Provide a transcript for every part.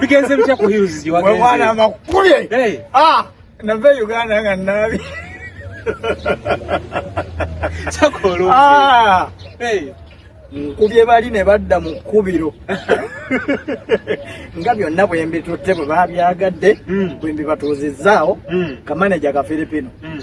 bigenze bitya ku hills gye wagenze mwana makubye hey. ah nava e uganda nga naabi sakooloo ah. hey. nkubye bali ne badda mu kkubiro nga byonna bwe mbitutte bwe babyagadde hmm. bwe mbibatuuzizzaawo hmm. kamaneja ka filipino hmm.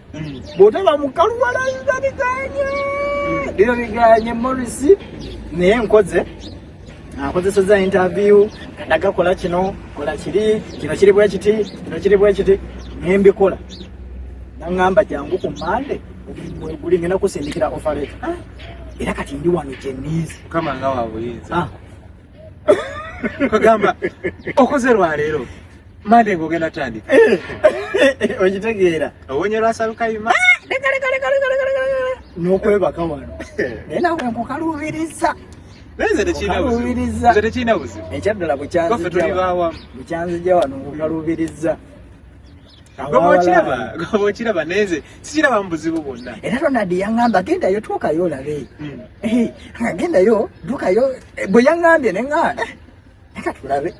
bwotaba mukalu walayira biganye bino biganye morris naye nkoze akozeseza interview kadaga kola kino kola kiri kino kiri bwekiti kino kiri bwekiti nembikola nangamba jangu ku mande guli ngenda kusindikira ofareta ah, era kati ndi wano jenizi kama nga wabuyinza ah. kagamba okoze lwaleero mande ngogenda tandika okitegeera owonye lwasalukayima nokwebaka wano naye nawe nkukaluubiriza ekyaddala bukyanzija wano nkukaluubiriza okiraba nenze sikiraba mu buzibu bwonna era ronald yaŋamba gendayo tuukayo olabe hmm. eh, nga gendayo dukayo eh, bwe yaŋambye neŋa eh, leka tulabe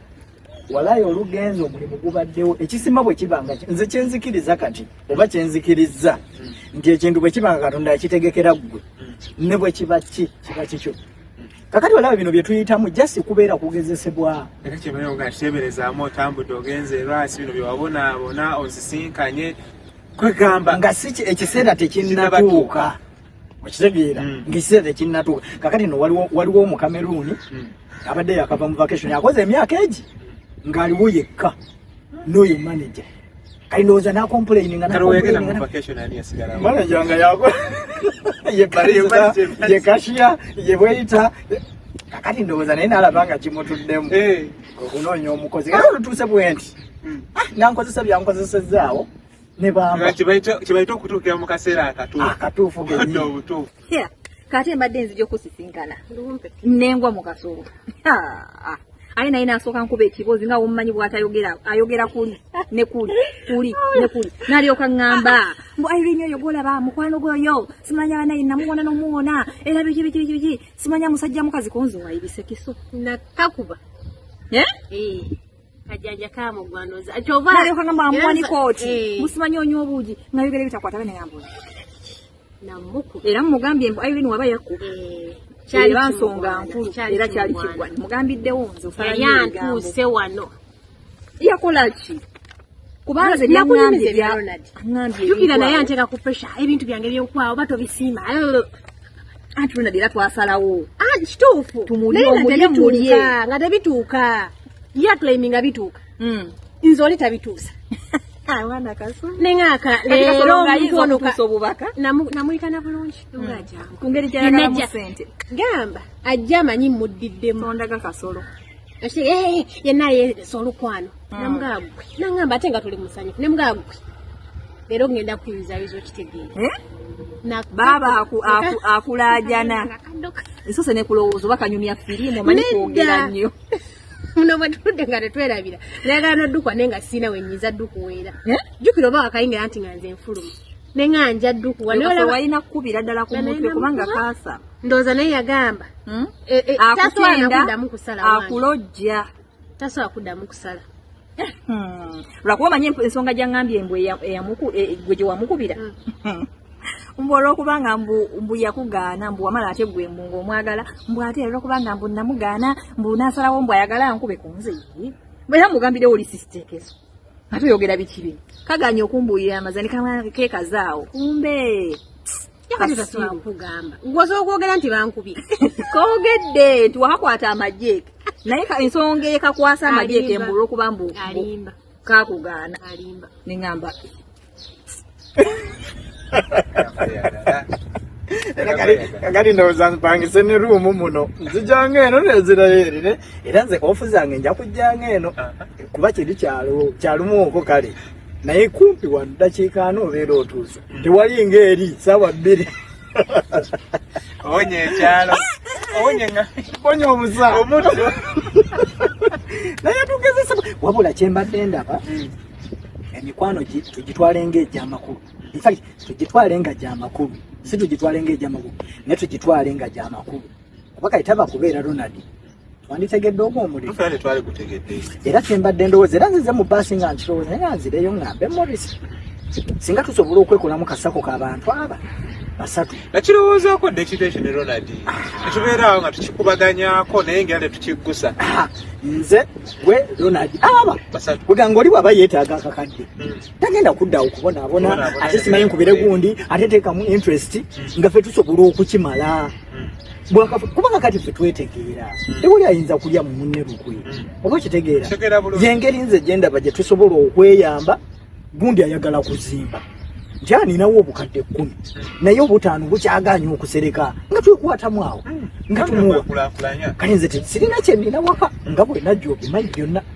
walayo olugenzi omulimu gubaddewo ekisima bwe kibanga nze kyenzikiriza kati oba kyenzikirizza hmm. nti ekintu bwe kibanga katonda yakitegekera ggwe hmm. ne bwe kiba ki kiba kikyo kakati olaba bino byetuyitamu jasi kubeera kugezesebwa era kyebayo nga kiteberezaamu otambudde ogenze erwasi bino byewabonaabona ozisinkanye kwegamba nga si ekiseera tekinnatuuka okitegeera mm. ngaekiseera tekinnatuuka kakati no waliwo omukameruuni mm. abadde yakava mu vacation akoze emyaka egi ng'aliwo yekka noyo manager kali noza na complain nga na complain nga vacation ani asigara manager nga yako ye barista ye cashier ye waiter kakati ndoza naye nalabanga kimutuddemu eh okunoonya omukozi kati olutuuse bwenti hmm. ah, nankozesa byankozesezaawo ne bamba kyebayita okutuukira mu kaseera akatuufu akatuufu Here, kati mbadde nzija okusisinkana nengwa mu kasolo aye naye nasooka nkuba ekibozi nga womumanyi bwatayogera ayogera kuli ne kuli kuli ne kuli nalyoka ŋŋamba mbu irene oyo gwolaba mukwano gwoyo simanya banaye namuwona nomuwona era biki biki biki biki simanya musajja mukazi konzi wayibise kiso nakakuba eh? Eh. kajanja kamugwandoza kyovaayokanga mwamuwanikooti eh. musimanya onywa obuugi nayogera ebitakwata bene ngambuzi era mumugambye mbu irene waba yakuba eh, kyali bansonga nkulu era kyali kigwa mugambiddewo nze osalantuuse wano yakola ki kubanga ze byaŋambye byaŋambyeyukira naye anteeka ku presha ebintu byange byokwawo oba tobisiima anti luna dera twasalawo ah, kituufu naye nga tebituuka nga tebituuka yaclaiminga bituuka mm. nze oli tabituusa nengaka leero omuntu ono namuyita na bulungi hmm. ngaajangu gamba ajja amanyi muddiddemu yenna yeesa olukwano hmm. namugagwe nangamba ate nga tuli musanyu nemugagwe leero ngenda kuyuzayuza okitegeera eh? baaba akulajana esose nekulowooza oba kanyumya firimu omanyi kwogera nnyo muno bwetudde nga tetwerabira nayagala nodukwa naye nga siina wenyiza dukuweera eh? jukira oba wakayingira nti nga nze nfulumu ne nga nja dukuwa walina kukubira ddala ku mutwe kubanga kaasa ndowooza naye yagamba hmm? e, e, akutenda akulojja tasobola kuddamu kusala Hmm. lwakuba omanyi ensonga gyangambye mbu e, e, gwe gyewamukubira hmm. mbu olwokubanga mbu yakugaana mbu wamala ate gwe mbu ngaomwagala mbu ate olwokubanga mbu namugaana mbu nasalawo mbu ayagala nkube ku nze era mugambirewo oli sisitekeso ate oyogera bikibi kaganye okumbuulira amazani kekazaawo kumbe kugamba ngoza okwogera nti bankubye kogedde nti wakakwata amajeke naye ensonga ekakwasa amajeke mbulwa okuba mbu kakugaana neŋamba kati ndowooza mpangise ne ruumu muno nzijanga eno neziraeri era nze ofu zange nja kujjanga eno kuba kiri kyalumu oko kale naye kumpi wa ddakiika ano obeera otuuse tewali ng'eri saawa bbiri owonya ekyalo owonya nga bonya obusa omutto naye tugezesa wabula kyembadde ndaba emikwano tugitwale ng'egyamakulu infact tugitwale nga gyamakulu si tugitwale ng'egyamakulu naye tugitwale nga gyamakulu kuba kati tava kubeera ronald twanditegedde ogwo omulimu era kyembadde ndowooza era nzize mu baasi nga nkirowooza naye nga nzireyo ngambe moris singa tusobola okwekolamu kasako ka bantu aba basatu nakirowoozaako dda ekintu ekyo ne ronald tetubeeraawo nga tukikubaganyako naye ngera tetukiggusa ah, nze gwe ronald aba weganga oli bwaba yeetaaga akakadde hmm. tagenda kuddawo kubonaabona ate simanyi nkubire gundi ate teekamu interest nga fe tusobola okukimala kubanga kati fe twetegeera tewali ayinza kulya mu munne lukwe oba okitegeera yengeri nze gyendaba gye tusobola okweyamba gundi ayagala kuzimba nti aninawo obukadde kkumi naye obutaano bukyaganya okusereka nga twekwatamu awo nga tumuwa kale nze sirina kyenina waka nga bwenajja obimanyi byonna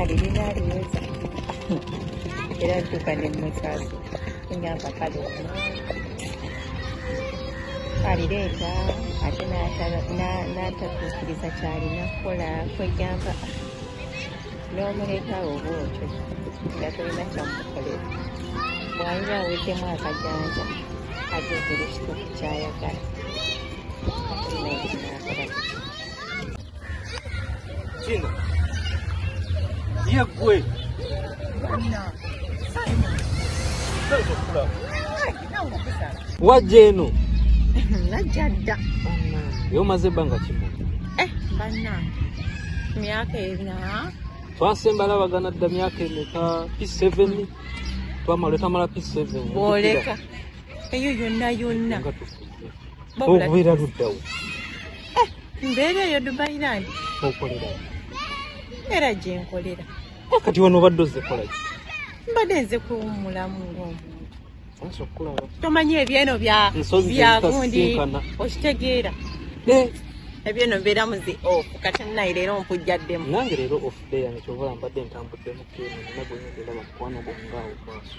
alirina aliweza era ntuuka ne musaasi engamba kale alireeta ate n'atatuukiriza kyalina kukola kwegamba n'omuleetaawo oba otyo nga tolina kyamukolera bwaliba aweddemu akajanja agezerekituufu kyayagala kino ye ggwe wajja eno najja dda ye omaze ebbanga kimu eh, banna myaka ena twasemba labagana dda myaka emeka p seven twamala etamala p seven bwoleka eyo yonna yonna okubeera luddawo mbeera eyo dubai land okolera era gyenkolera kati wano obadde ozekolaki mbadde nze kuwumulamu ngaomuntu tomanyi ebyeno byagundi okitegeera ebyeno mbeera muzi of kati naye leero mpujjaddemu nange leero ofudeyange kyovola mbadde ntambuddemu keno nagwenyegenda bakukwana obongaawo maaso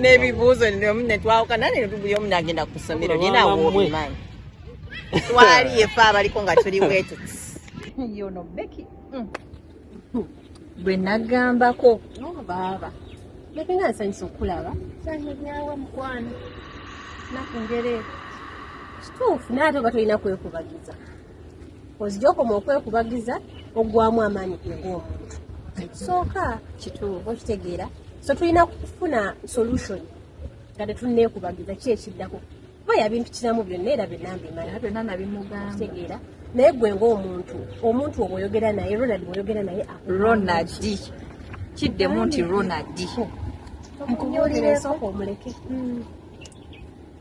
n'ebibuuzo omu netwawukana ne buli omu nagenda ku ssomero naye nawobimanyi twali efe abaliko nga tuli bwetuti yono beki mm. bwe nagambako oh, baaba beki nga nsanyisa okulaba sanyawa mukwano nakungere kituufu naate oba tolina kwekubagiza ozijokoma okwekubagiza ogwamu amaanyi gwomuntu sooka kituufu okitegeera so tulina kufuna solution nga tetunekubagiza ki ekiddako kuba yabintu kiramu byonna era byenamba emalabyonaabimugambtegeera naye gwe ngaomuntu omuntu obwoyogera naye ronald bwoyogera naye ronald kiddemu nti ronald omuleke hmm.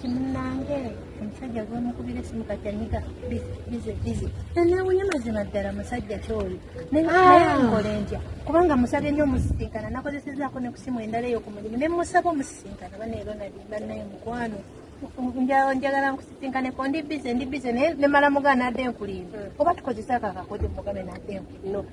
kimunange omusajja gwemukubira esimu kati anyiga bize bize nanewunya mazima ddala musajja kyoyo nayenkole ah. ntya kubanga musabye nyo omusisinkana nakozesezaako ne ku simu endala eyo ku mulimu ne musaba omusisinkana baneero nali banaye mukwano njagala nkusisinkane ko ndi bize ndi bize naye nemala mugana adde nkulimba hmm. oba tukozese ako akakodyo mugabe nadde nkulimba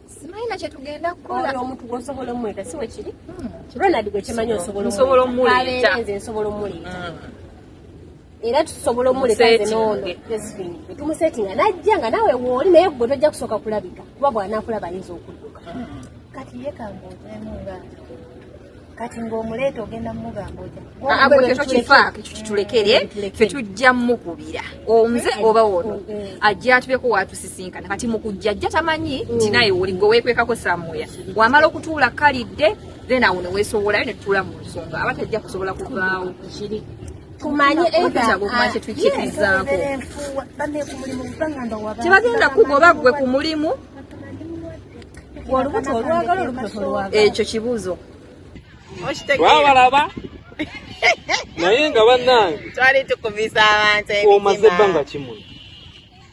simanyi nakye tugenda kukola omuntu gwosobola omweta si wekiri hmm, ronald gwekimanyi osobola omuleeta nze nsobola omuleeta hmm. era tusobola omuleetumusetinga najja nga nawe wooli naye gwe tojja kusooka kulabika kuba bwanakulaba ayinza okudduka hmm. kati yekambaotemu nga kati ng'omuleeta ogenda mumugamba ojaagwe ah, ah, tekifaako ekyo kitulekere eh, fe tujja mukubira omuze eh, oba wono eh, ajja atubeko watusisinkana kati mukujja ajja tamanyi mm. nti naye oli gwe weekwekako samuya wamala okutuula kalidde then awo neweesowolayo netutuula mu nsonga aba tajja kusobola kuvaawo kumanye edakyekyetukirizaakotebagendakugoba gwe ku mulimu ekyo kibuuzo wabalaba naye nga bannange twali tukumisa abantu omaze ebbanga kimu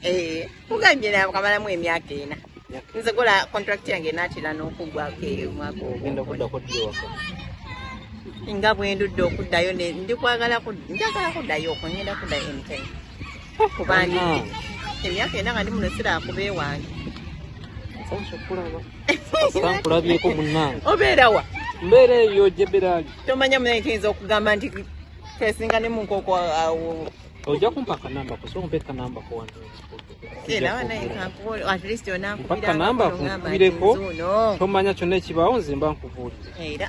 eh, ugambye nakamalamu emyaka ena nze kola contract yange natera n'okugwako eyo omwaka ogenda okuddako ddi ewaka nga bwendudde okuddayo ndi kwagala njagala kuddayo okwo ngenda kuddayo anytime emyaka ena nga ndi muno sirakuba ewange sankulabyeko munange obeerawa mbeera eyo jeberaali tomanya munaye kiyinza okugamba nti kesinga ne munkoko awo ojja kumpa akanamba ko soompa ekanamba ko wanpaka namba kunkubireko tomanya kyonna ekibaawo nze mba nkubuulire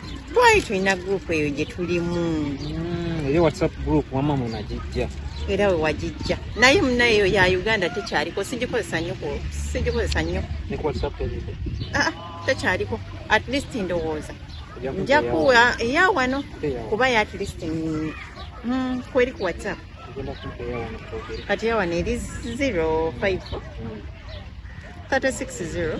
Bwayi tulina group eyo gye tulimu. Mm, eri WhatsApp group wama munagijja. Era we wagijja. Naye munaye eyo ya Uganda tekyaliko sigikozesa nnyo ko sigikozesa nnyo. Ne ku WhatsApp eyo. Ah, ah, tekyaliko. At least ndowooza. Nja kuwa eya wano kuba ya at least mm, mm kweri ku WhatsApp. Kati ya wano eri 05 36 0.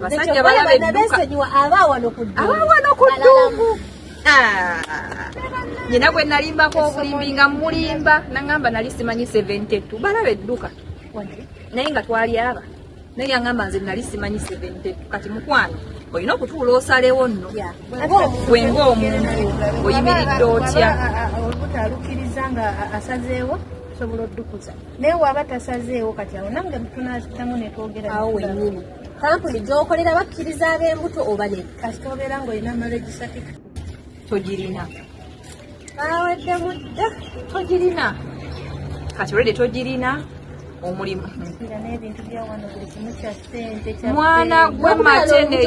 basajja balabe dduka abaawano ku dduuku nyina ah. gwe nalimbako obulimbi nga mulimba nangamba nali simanyi 72 balabe dduka naye nga twali aba naye yangamba nze nali simanyi 72 kati mukwano olina okutuula osalewo nno gwe ngaomuntu oyimiridde otya olubuto alukiriza nga asazeewo osobola oddukuza naye waba tasazeewo kati awo nange mutunazitamu netwogera awo wenyini kampuni gyokolera bakkiriza ab'embuto oba ne kasita obeera ng'olina marriage certificate togirina bawadde mudda togirina kati olwedde togirina omulimu mwana gwe mateneti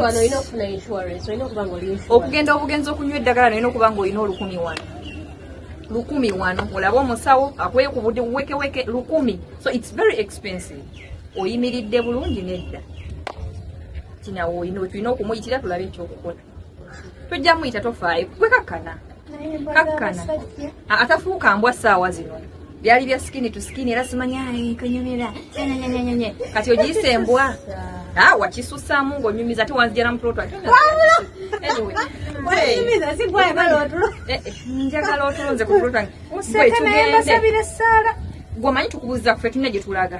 okugenda obugenzi okunywa eddagala naye nokuba nga olina olukumi wano lukumi wano olaba omusawo akwekubudde wekeweke lukumi so its very expensive oyimiridde bulungi nedda kinawe olina tulina okumuyitira tulabe ekyokukola tojja muyita tofaayo kwekakkana kakkana atafuuka mbwa ssaawa zino byali bya skin to skin era simanya kanyumira nyenyenyenyenye kati ogiyise embwa ah, wakisusamu ng'onyumiza ate wanzijala mu plot ate eh, eh, njagala otulonze ku plot gwe tukubuuza kufe tulina gye tulaga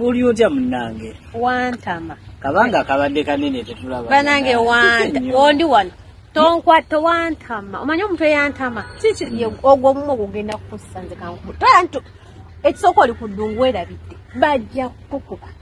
oli otya munange wantama kabanga kabadde kanene tetulaba banange wanta ondi wano tonkwata wantama omanyi omuntu eyantama kiki ogwo omumu ogugenda kukusanze kankumu toyantu ekisooka oli ku ddungu werabidde bajja kukukuba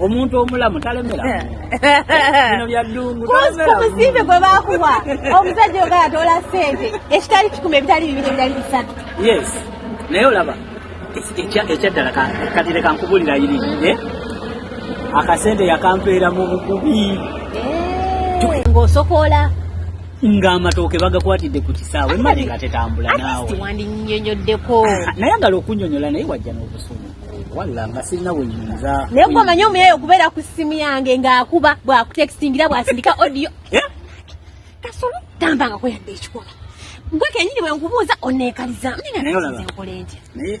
omuntu omulamu talemera bino byaddungu kubusimbe gwe bakuwa omusajja ogala tola sente ekitali kikuma ebitali bibiri ebitali bisatu yes naye olaba ekyaddala katire kankubulira iri eh? akasente yakampeera mu bukubi eh. ngaosokola nga amatooke bagakwatidde ku kisaawe mali nga tetambula naawe wandinyonyoddeko nayagala okunyonyola naye wajja n'obusungu walla nga sirina wenyinza naye gwe omanyi omuyaye okubeera ku ssimu yange ng'akuba bwakutextingira bwasindika odiyo eh? kasolo tambangako yadde ekikola gwe kenyini bwe nkubuuza oneekaliza naye olaba naye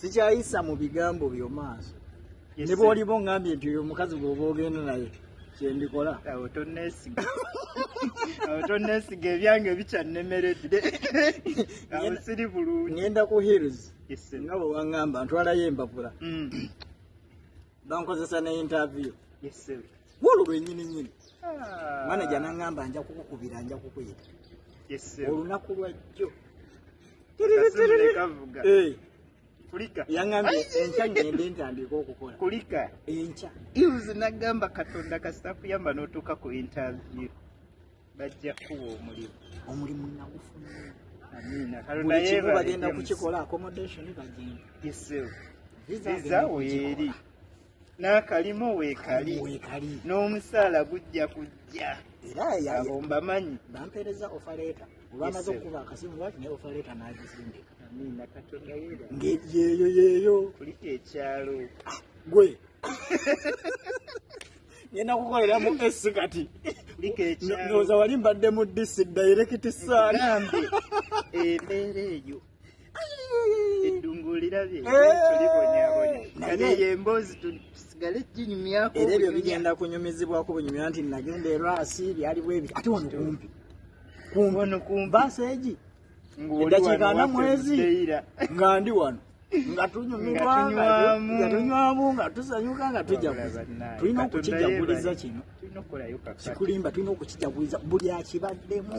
sikyayisa mu bigambo byo maaso ne bwoliba ongambye nti oyo omukazi gwoba ogenda naye kyendikola awo tonesiga awo tonesiga ebyange bikyannemeredde awo siri bulungi ngenda ku hills nga bwe wangamba ntwalayo embapula mm. bankozesa ne interview wolu lwenyini nyini ah. manaja nangamba nja kukukubira nja kukuyita olunaku lwajjo kulika yangambye enkya ngende ntandika okukola kulika enkya ius nagamba katonda kasita kuyamba notuuka ku interview bajja kuwa omulimu omulimu nagufuna amiina bagenda kukikola accommodation bagenda visa weeri n'akalimu weekali n'omusaala gujja kujja abomba manyi bampeereza ofaleeta olwamaze okukuba akasimu waki naye ofaleeta n'agizindika yeeyo yeeyo kulika ekyalo ah, gwe ngenda kukolera mu esi kati noza wali mbadde mu disi dayirekiti saana embeera eyo eddungu olirabye tulibonyabonya kale eyo emboozi tusigale ginyumyako era ebyo bigenda kunyumizibwako bunyumya nti nagenda erwasi byali bwebi ate wano kumpi wano kumbaasa egi eddakiika nga mwezi nga ndi wano nga tunyumirwangatunywamu nga tusanyuka nga tujaguza tulina okukijaguliza kino kikulimba tulina okukijaguliza buli akibaddemu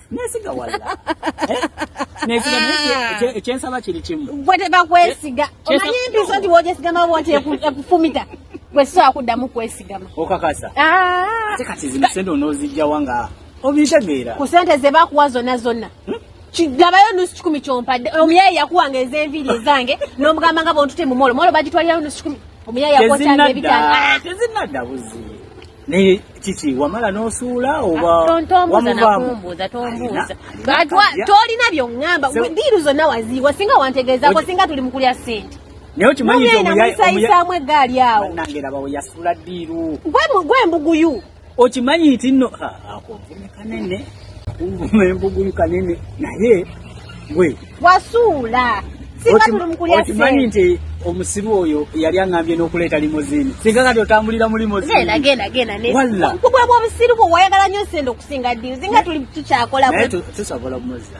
nesiga wala eh? nesiga ah. ekyensaba kiri kimu gwe tebakwesiga eh? omanyi empiso nti wojesigama woti ekufumita gwe sisobola kuddamu kwesigama okakasa ah. ate kati zino sente onozijjawa nga obitegeera ku sente zebakuwa zonna zonna hmm? kigabayo nusu kikumi kyompadde omuyaye yakuwanga ezenviiri ezange nomugamba nga bontute mumolo molo bagitwalirayo nusu kikumi omuyaye yakuwa kyange ebitaano ah! tezinadda buzi naye kiki wamala n'osuula oba tolina byoŋŋamba diiru zonna waziiwa singa wantegeezaako singa tuli mu kulya ssente nayenamusayisaamu eggaali awo gwe mbuguyu okimanyi nti no kanene nguma embugulu kanene naye gwe wasuula okimanyi nti omusiru oyo yali aŋambye n'okuleeta limozini singa kati otambulira mu limoziniwalaobusiru bwe wayagala nyo sente okusinga diri zinga tuli tukyakola tusobola omuzza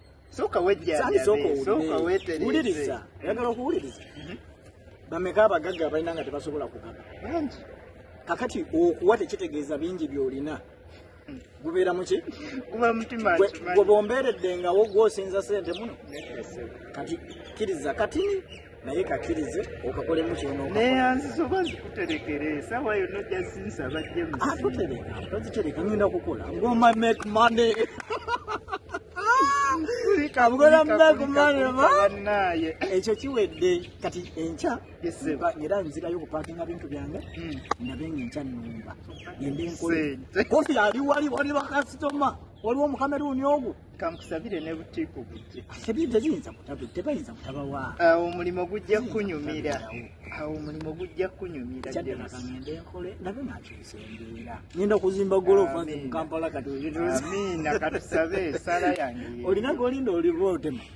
soka wejja sani soko soka wete uliriza yagala okuwuliriza mhm. bameka abagagga abalina nga tebasobola kugaba bangi kakati okuwa tekitegeeza bingi byolina hmm. gubeera muki gwe bombeeredde ngawo gwosinza sente muno kati kiriza katini naye kakirize okakolemu kyononeyanzisoba zikuterekere esawa yona ojja zinsaba jemusiakutereka ah, tozitereka ngenda kukola ngoma make money kabugolamnaye ekyo kiwedde kati enkya era nzirayo okupakinga bintu byange hmm. ndabe nga enkya numba kofi ali wali wali bakasitoma waliwo omukameruuni ogwo kankusabire ne butiipu bujje asabire teziyinza kutabe tebayinza kutabawa awo omulimu gujja kunyumira awo omulimu gujja kunyumira kyaddemagangende enkole nabe nakyusa embeera ngenda kuzimba golofa nze mukampala kati amiina katusabe esala yange olina golinda oliba otema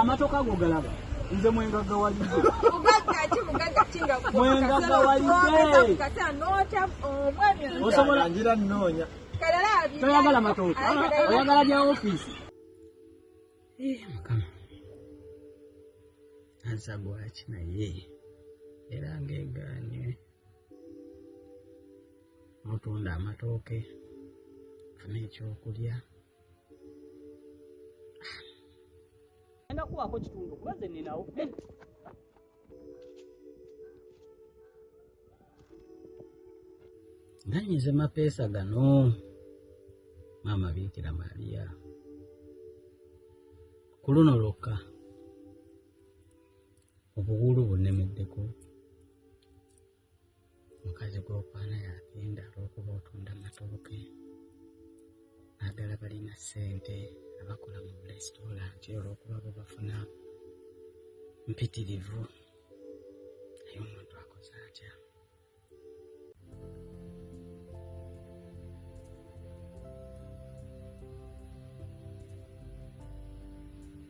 amatoka go galaba nze mwengaga waliddeosobolangira noonya toyagala matooka oyagala bya ofiisi eh, mukama ansa gwaki naye era ngeganye mutunda amatooke funa ekyokulya enda kuwaako kitundu kuba ze ninawo nanyize mapeesa gano maama biikira maria ku luno lwokka obuwuulu bunnemeddeko mukazi gw'okwana yagenda olw'okuba otunda matooke naddala balina ssente abakola mu bulesitoolanti olw'okuba bwe bafuna mpitirivu naye omuntu akoze atya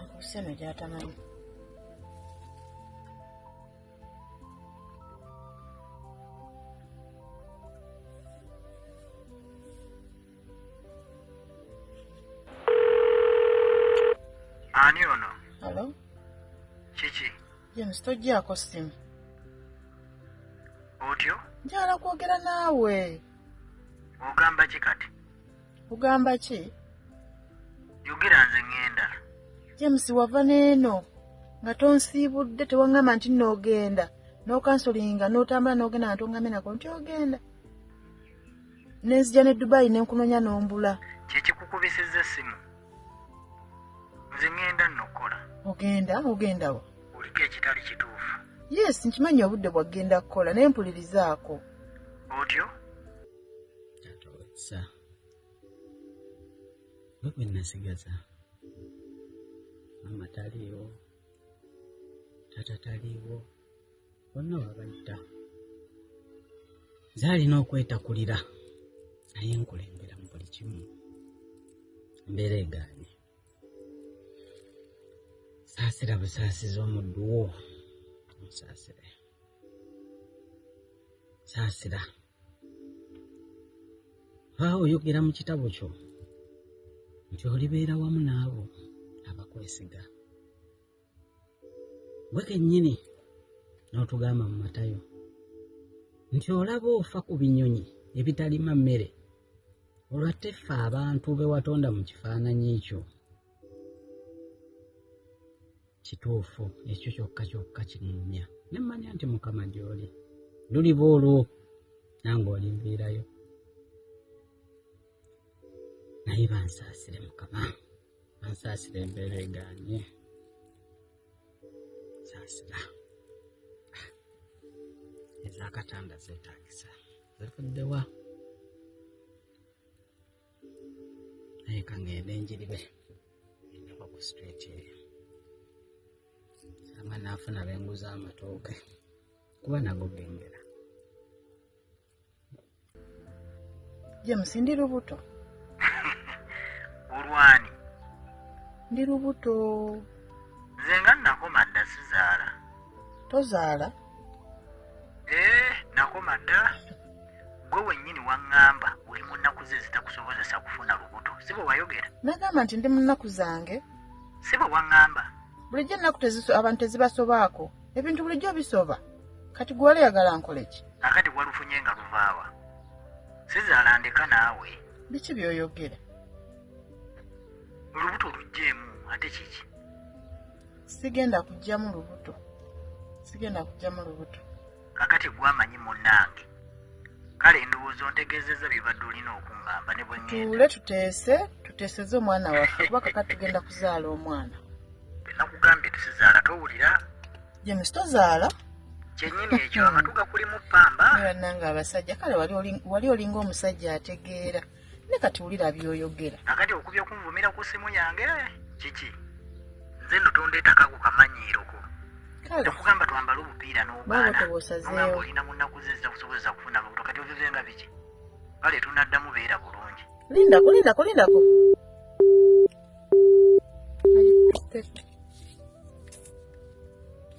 akuseno gyatamanyi ani ono alo kiki james tojjaako simu otyo njala kwogera naawe ogamba ki kati kugamba ki yogera nze ŋŋenda james wava n'eno nga tonsiibudde tewaŋŋamba nti noogenda n'okansolinga n'otambula n'ogenda nga toŋŋambye nako nti ogenda ne nzija ne dubayi ne nkunoonya n'ombula kyekikukubisizza essimu nze ŋŋenda nno okukola ogenda ogenda wa oliko ekitali kituufu yes nkimanyi obudde bwaggenda kukola naye mpulirizaako otyo tatowesa nga bwe nasigaza maama taliiwo tata taliiwo bonna wabayita nze alina okwetakulira naye nkulembera mu buli kimu embeera egaanye saasira busaasiza omuddu wo musaasire saasira baawo oyogera mu kitabo kyo nti olibeera wamu n'abo abakwesiga gwe kennyini n'otugamba mu matayo nti olaba ofa ku binyonyi ebitalima mmere olwatte ffe abantu be watonda mu kifaananyi kyo Kituufu, ekyo kyokka kyokka kirinnya. Ne mmanya nti Mukama gy'oli. Luliba olwo nange olinviirayo. Naye bansaasire Mukama, bansaasire embeera egaanye. Nsaasira. Ah, Ez'akatanda zeetaagisa. Zivudde wa? naye ka ngende njiribe endeko ku street eyo ama naafuna benguza amatooke kuba nago gengera james ndi lubuto olwani ndi lubuto nze nga nakoma dda sizaala tozaala Eh, nakoma dda gwe wennyini waŋŋamba oli mu nnaku ze ezitakusobozesa kufuna lubuto si bwe wayogera nagamba nti ndi mu nnaku zange si bwe waŋŋamba bulijjo ennaku abantu tezibasobaako ebintu bulijjo bisoba kati gwe wali yagala nkole ki akati walufunye nga luvaawa sizaala ndeka naawe biki byoyogera olubuto oluggyemu ate kiki sigenda kujjamu lubuto sigenda kujjamu lubuto kakati gwamanyi munange kale endowooza ontegeezezza byebadde olina okungamba ne bwetuule tuteese tuteeseze omwana waffe kuba kakati tugenda kuzaala omwana nakugambye tusizaala towulira james tozaala kyenyini ekyo amatu gakulimu pamba nange abasajja kale wali olinga omusajja ategeera wali ne kati wulira byoyogera nakati okubye okunvumira ku simu yange kiki nze no tondetaka ku kamanyiiroko tekugamba twambale obupiira n'obaananga olina mu nnaku ze zitakusobozesa kufuna lubuto kati ovive nga biki kale tunaddamu beera bulungi lindako lindako lindako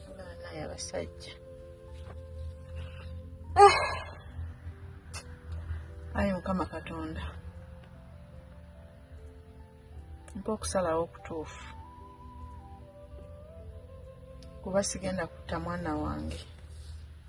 abaana yabasajja eh. ayi mukama katonda mpa okusalawo okutuufu kuba sigenda kutta mwana wange